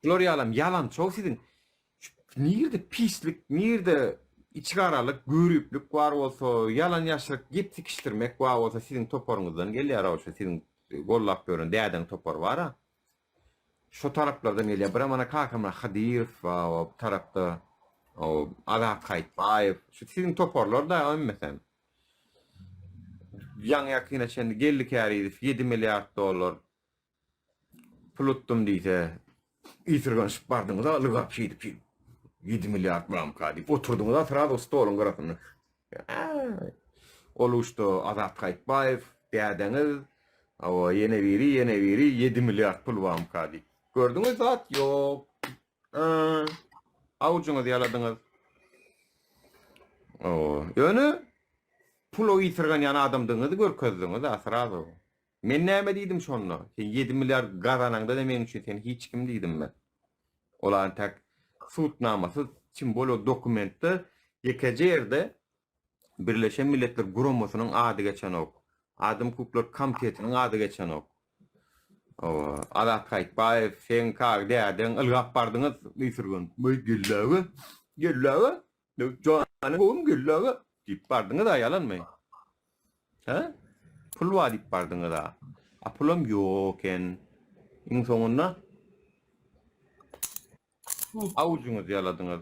Bular ýalam ýalanço siziň nirde pislik nirde içigaralyk görüplik bar bolsa ýalan ýaşryk gep sikişdirmek bar bolsa siziň toparyňyzdan gelýär o şu siziň gollap ýören dädeň topary bara şo taraplardan gelýär bira mana kakamyra hadyrow ba o tarapda o azat haýtbaýew şu siziň toparlar da ömmesem ýaňy ýakyna çenli geldi käriýew ýedi milliard dollar Pul utdum diýse, ýitirgenşip bardyňyz-a lygap şeýdip-şeýdip. Ýedi milliard bulamyka diýip oturdyňyz-a srazu stoluň gyrasynda. Äý! Ol uçda Azat Haýytbaýew, dädeňiz, hawa, ýene biri, ýene biri, ýedi milliard pul bamyka diýip. Gördüňiz, zat ýok. Äý! Awujyňyzy ýaladyňyz. Hawa, ýöne pul ýitirgenýän adamdygyňyzy görkezdiňiz-ä srazu. Men näme diýdim şonda? Sen ýedi milliard gazanaňda da meň üçin sen hiç kim diýdim men. Ol antak sudnamasyz çyn bolar dokumentde ýekeje ýerde Birleşen Milletler Guramasynyň ady geçenok. Adam hukuklar komitetiniň ady geçenok. Owa, Azat Haýytbaýew, seň kag dädeň ylgap bardyňyz Müsürgün. Möý gelläge, gelläge Janyň gowumy Gülli aga? diýip bardyňyz-a, ýalanmy? Hä? Pul bar diýip bardyňyz-a. A pulam ýok eken. Iň soňunda awujyňyzy ýaladyňyz.